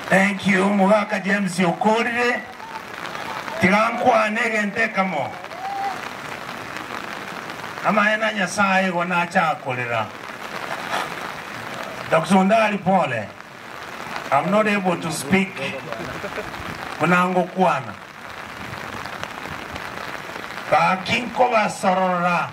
Thank you Omogaka James Okorire, tiga nkwane egento ekemo. Amaene a Nyasaye igo nachaka korera. Doctor Ondari pole, I'm not able to speak buna ngokwana. Gaki nkobasorora.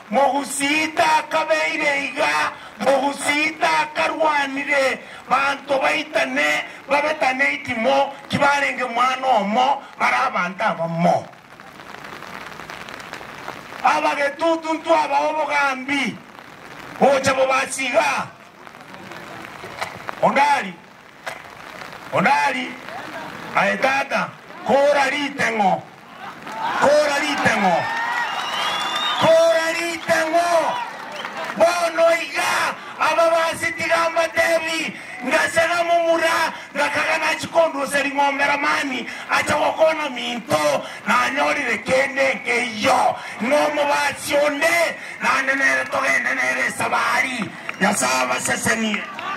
Mogusita akabeire iga, Mogusita akarwanire banto baitane babe tane itimo, tibarenge mwana omo, bare abanto abamo. Abagetutu ntwabae obogambi, boche bobasiga. Odari. Odari, Aye tata, kora riteng'o, kora riteng'o, kora riteng'o. Bono iga ababasi tiga mbatebi, Ngasena momura, ngakaga nachi kondusa ring'ombe Lamani ache gokwana minto, nanyorire kende nkeiyo, ng'a omobasi onde, naende nere togende nere Esabari. Nyasae abasesenie.